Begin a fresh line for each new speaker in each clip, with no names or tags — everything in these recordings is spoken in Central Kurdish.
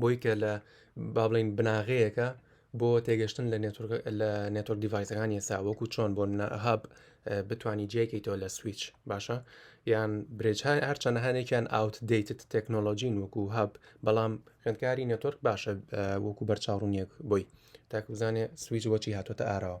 بۆی کە لە با بڵین بناغەیەەکە بۆ تێگەشتن لە لە نێتۆک دیڤایسەکانی ئێستا وەکو چۆن بۆ هاب بتانی جێکەیتەوە لە سویچ باشە یان برێجهای هەرچەند هەنێکیان ئاوت دیت تەکنۆلۆژین وەکو هاب بەڵام خوێندکاری نێتۆرک باشە وەکو بەرچاوڕونیەک بۆی تاکوزانێ سویچ وەچی هاتوۆتە ئاراوە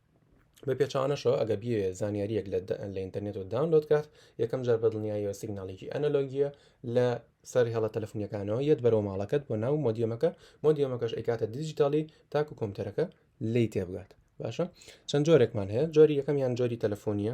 بە پێچوانەشەوە ئەگە بێ زانیاریەک لە لە ئینتەرنێتەوە داونلۆد کات یەکەم جار بەدڵنیاییەوە سیگناڵێکی ئەنەلۆگیە لە سەر هێڵە تەلفنیەکانەوە یەت بەرەوە ماڵەکەت بۆ ناو مۆدیەمەکە مۆدیەمەکەش ئەیکاتە دیجیتالی تاکو کۆمپیوتەرەکە لی تێبگات باشە چەند جۆرێکمان هەیە جۆری یەکەم یان جۆری تەلەفۆنیە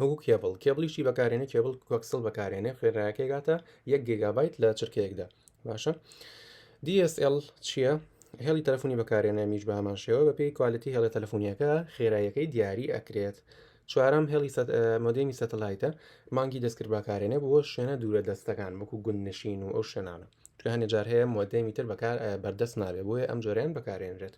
وەکو کێبڵ کێبڵیشی بەکارێنێ کێبڵ کۆکسل بەکارێنێ خوێنراکەی گاتە یەک گێگابیت لە چرکەیەکدا باشە DSL چییە؟ هێڵی تەلفۆنی بەکارێنە میش بە هەمان شێوە بە پێی کوالەتی هێڵە تەلفۆنیەکە خێرایەکەی دیاری ئەکرێت چوارم هێڵی مۆدێمی سەتەلایتە مانگی دەستکرد بەکارێنە بۆ شوێنە دوورە دەستەکان وەکو گوند نشین و ئەو شوێنانە توانێ جار هەیە مۆدێمی تر بەکار بەردەست نابێ بۆیە ئەم جۆریان بەکارێنرێت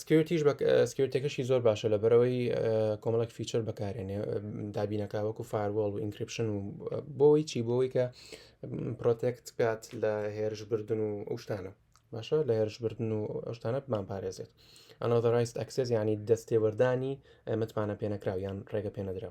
سکیورتیش بە سکیورتەکەشی زۆر باشە لە بەرەوەی کۆمەڵک فیچەر بەکارێنێ دابینەکە وەکو فاروەڵ و ئینکرپشن و بۆی چی بۆی کە پرۆتێکت بکات لە هێرش بردن و ئەوشتانە باشە لە هێرش بردن و ئەوشتانە بمان پارێزێت ئەنۆدەڕایست ئەکسس ینی دەستێوەردانی متمانە پێنەکراو یان ڕێگە پێنەدرا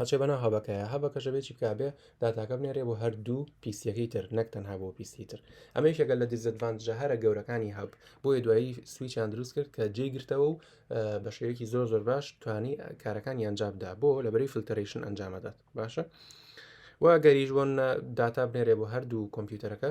ئەچێ بەناو هەبەکەیە هەبەکەشە بێ چی بکا بێ داتاکە بنێرێ بۆ هەردوو پیسیەکەی تر نەک تەنها بۆ پیسی تر ئەمە یشەکە لە دیزەدڤانجە هەرە گەورەکانی هەب بۆیە دوایی سویچیان دروست کرد کە جێ گرتەوە و بە شێوەیەکی زۆر زۆر باش توانی کارەکانی ئەنجامدا بۆ لەبەری فلتەرشن ئەنجامەدات باشە. و گەریش بۆن داتا بنێرێ بۆ هەردوو کۆمپیوتەرەکە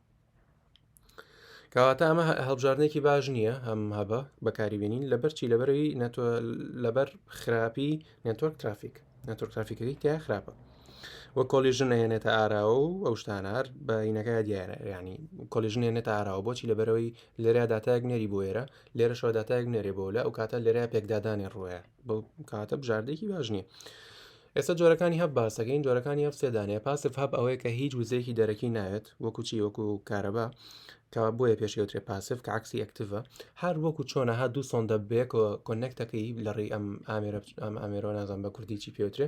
کەواتە ئەمە هەڵبژاردنێکی باش نییە ئەم هەبە بەکاری بینین لەبەر چی لەبەرەوەی نەتۆ لەبەر خراپی نێتۆرک ترافیک نەتۆر ترافیکەکەی تیا خراپە وە کۆلیژن نەهێنێتە ئاراوە و ئەو شتانار بە عینەکە دیارە ینی کۆلیژن نێنێتە ئاراوە بۆچی لەبەرەوەی لێرا داتایەک نێری بۆ ئێرە لێرەشەوە داتایەک نێرێ بۆ لە ئەو کاتە لێرە پێکدادانی ڕوەیە بەو کاتە بژاردەیەکی باش نییە ئێستا جۆرەکانی هەب باسەکەین جۆرەکانی هەب سێدانەیە پاسف هەب ئەوەیە کە هیچ وزەیەکی دەرەکی ناوێت وەکو چی وەکو کارەبا کە بۆیە پێشێوترێ پاسف کە عکسی ئەکتڤە هەر وەکو چۆنە هە دوو سۆن دەبێک و کۆنەکتەکەی لە ڕێی ئەم ئامێرە ئەم ئامێرۆ نازان بە کوردی چی پێوترێ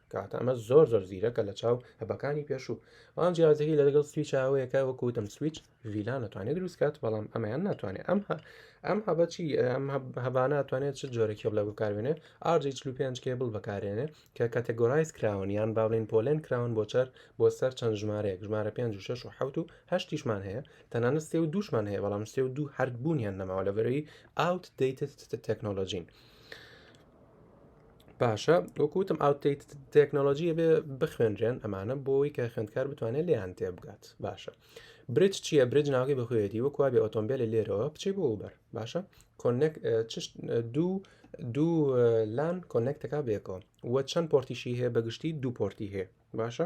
کاتە ئەمە زۆر زۆر زیرەکە لە چاو هەبەکانی پێشوو بەڵام جیازەکەی لە لەگەڵ سویچ ئەوەیەکە وەکوتم سویچ ڤیلا ناتوانێت دروستکات بەڵام ئەمەیان ناتوانێت ئەم ئەم هەبەچی ئەم هەبانە توانێت چ جۆرەکی بڵێ بکارێنێ ئارجی چلو پێنج کێبڵ بەکارێنێ کە کاتەگۆرایز کراون یان باڵین پۆلێن کراون بۆ چەر بۆ سەر چەند ژمارەیەک ژمارە پێ و شش و حوت و هەشتیشمان هەیە تەنانە سێ و دووشمان هەیە بەڵام سێ و دوو هەردبوونیان نەماوە لەبەرەوەی ئاوت دەیتە تەکنۆلۆژین. باشە وەکوتم ئاوتیت تەکنۆلۆژیە بێ بخوێنرێن ئەمانە بۆی کە خوێندکار بتوانێت لیان تێ بگات باشە برج چییە برج ناوی بەخوێتی وەکو بێ ئۆتۆمبیل لێرەوە بچی بۆ بەر باشە کۆنێک دوو دوو لان کۆنێکتەکە بێکەوە وە چەند پۆرتیشی هەیە بەگشتی دوو پۆرتی هەیە باشە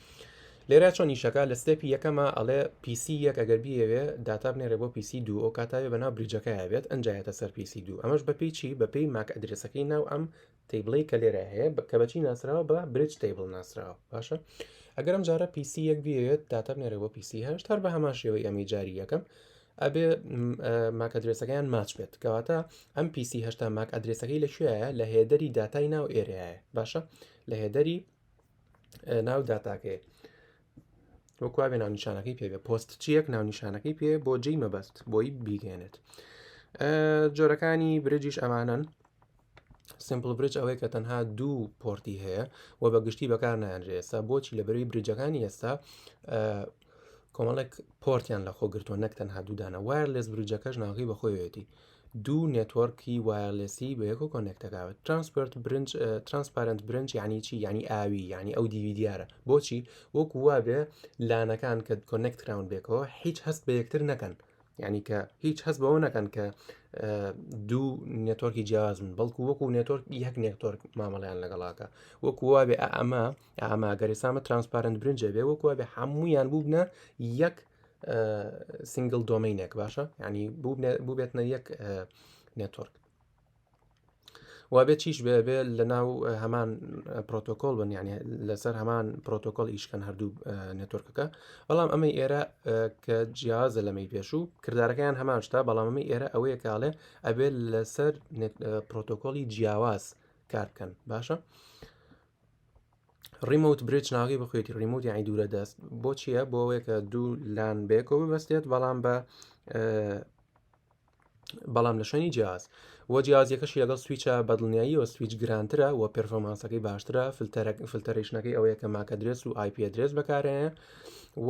لێرە چۆن نیشەکە لە ستێپی یەکەمە ئەڵێ پیسی یەک ئەگەر بیەوێ داتا بنێرە بۆ پیسی دوو ئەو کاتاوێ بەنا بریجەکەی بێت ئەنجایەتە سەر پیسی دوو ئەمەش بە پیچی بە پێی ماک ئەدرسەکەی ناو ئەم تیبڵی کە لێرە هەیە کە بەچی ناسراوە بە برج تیبل ناسراوە باشە ئەگەر ئەم جارە پیسی یەک بێت داتا بنێرە بۆ پیسی هەشت هەر بە هەمان شێوەی ئەمی جاری یەکەم ئەبێ ماک ئەدرسەکەیان ماچ بێت کەواتە ئەم پیسی هەشتا ماک ئەدرسەکەی لە کوێیە لە هێدەری داتای ناو ئێرەیە باشە لە هێدەری ناو داتاکەیە وەکوێ ناونیشانەکەی پێ پۆست چیەک ناونیشانەکەی پێ بۆ جێی مەبەست بۆی بیگەێنێت جۆرەکانی برجیش ئەمانن سمپل برج ئەوەیە کە تەنها دوو پۆرتی هەیە و بە گشتی بەکار نانرێستا بۆچی لە بەروی برجەکانی ئێستا کۆمەڵێک پۆرتیان لە خۆگرتووە نەک تەنها دوودانە وایە لەس برجەکەش ناغی بەخۆیەتی دوو نێتوەڕکی وایەرلێسی بەیەکەوە کۆنێکت دەکات ترانسپێرت برنج ترانسپارنت برنج یعنی چی یعنی ئاوی یعنی ئەو دیوی دیارە بۆچی وەکو وابێ لانەکان کە کۆنێکت کراون بێکەوە هیچ هەست بە یەکتر نەکەن یعنی کە هیچ هەست بەوە نەکەن کە دوو نێتۆرکی جیازن بەڵکو وەکو نێتۆرک یەک نێکتۆرک مامەڵیان لەگەڵاکە وەکو وابێ ئەمە ئاماگەرێسامە ترانسپارنت برنجە بێ وەکو بێ هەموویان بووبنە یەک سنگل دۆمینێک باشە ینی بووبێتنە یەک نێتۆرک وابێت چیش بێبێ لە ناو هەمان پرۆتۆکۆل بن یعنی لەسەر هەمان پرۆتۆکۆل ئیشکەن هەردوو نێتۆرکەکە بەڵام ئەمە ئێرە کە جیازە لەمەی پێشوو کردارەکەیان هەمان شتا بەڵامەمە ئێرە ئەوەیە کاڵێ ئەبێت لەسەر پرۆتۆکۆلی جیاواز کارکەن باشە ڕیموت برج ناوی بخوێتی ڕیموت یانی دوورە دەست بۆچیە بۆ ئەوەیەکە دوو لان بێکۆ ببەستێت بەڵام بە بەڵام لە شوێنی جیاز و جیازیەکەش لەگەڵ سویچە بەدڵنیاییەوە سویچ گرانترە و پرفۆمانسەکەی باشترە فلتەرێک فلتەرشنەکەی ئەوەیە کە ماکە درێس و آیپە درێس بەکارەیە و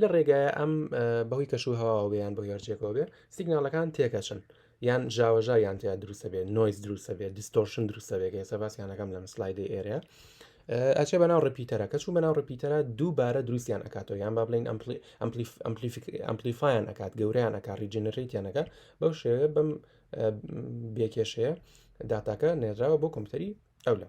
لە ڕێگایە ئەم بەهۆی کەش و هەواوە بێیان بۆ هێرجێکەوە بێ سیگنالەکان تێکەچن یان ژاوەژا یان تیا دروستە بێت نۆیز دروستە بێت دیستۆرشن دروستە بێت ئێستا باسییانەکەم لەم سلایدی ئێرە ئەچێ بەناو ڕپیتەرە کە چوو بەناو ڕپیتەرە دووبارە دروستیان ئەکاتەوە یان با بڵین ئەمپلیفایان ئەکات گەوریان ئەکات ریجنەریتیانەکە بەو شێوێ بەم بێکێشەیە داتاکە نێراوە بۆ کۆمپیوتەری ئەو لە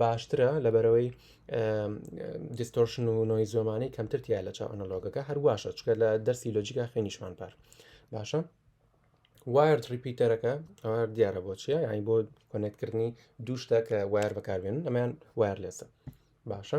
باشترە لەبەرەوەی دیستۆرشن و نۆی زۆمانی کەمتر تیا لە چاو ئەنەلۆگەکە هەرواشە چکە لە دەرسی لۆجیکا خوێنیشمان پار باشە وارد ریپیتەرەکە ئەوە دیارە بۆ چیە یانی بۆ کۆنێکتکردنی دووشتە کە وایر بەکاربێنن ئەمەیان وایرلێسە باشە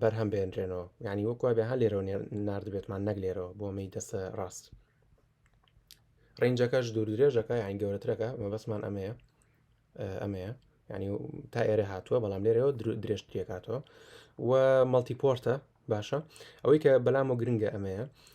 بەرهەم بێنرێنەوە یعنی وەک وابێ هەر لێرەوە نردبێتمان نەک لێرەوە بۆ مەی دەستە ڕاست ڕنجەکەش دوور درێژەکە یان گەورەترەکە مەبەسمان ئەمەیە ئەمەیە ینی تا ئێرە هاتووە بەڵام لێرەوە درێژترێکاتەوە و مەڵتیپۆرتە باشە ئەوەی کە بەلام و گرنگە ئەمەیە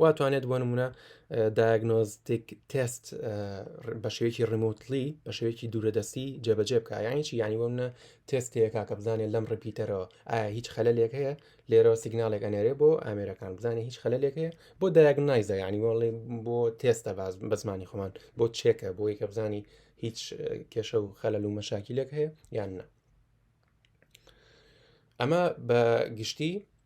وا توانێت بۆ نمونە دایگنۆزتیک تست بە شێوەیەکی ڕموتلی بە شێوەیەکی دوورەدەستی جێبەجێ بکە یانیی ینی بۆمە تستەیەکا کە بزانێت لەم ڕپیتەرەوە ئایا هیچ خەلێک هەیە لێرەوە سیگنالێک ئەنێرێ بۆ ئامێرەکان بزانێ هیچ خەلێک هەیە بۆ دایگنایزە ینی بۆڵێ بۆ تێستە باز بە زمانی خۆمان بۆ چێکە بۆ یەکە بزانی هیچ کێشە و خەلەل و مەشاکیلێک هەیە یان نە ئەمە بە گشتی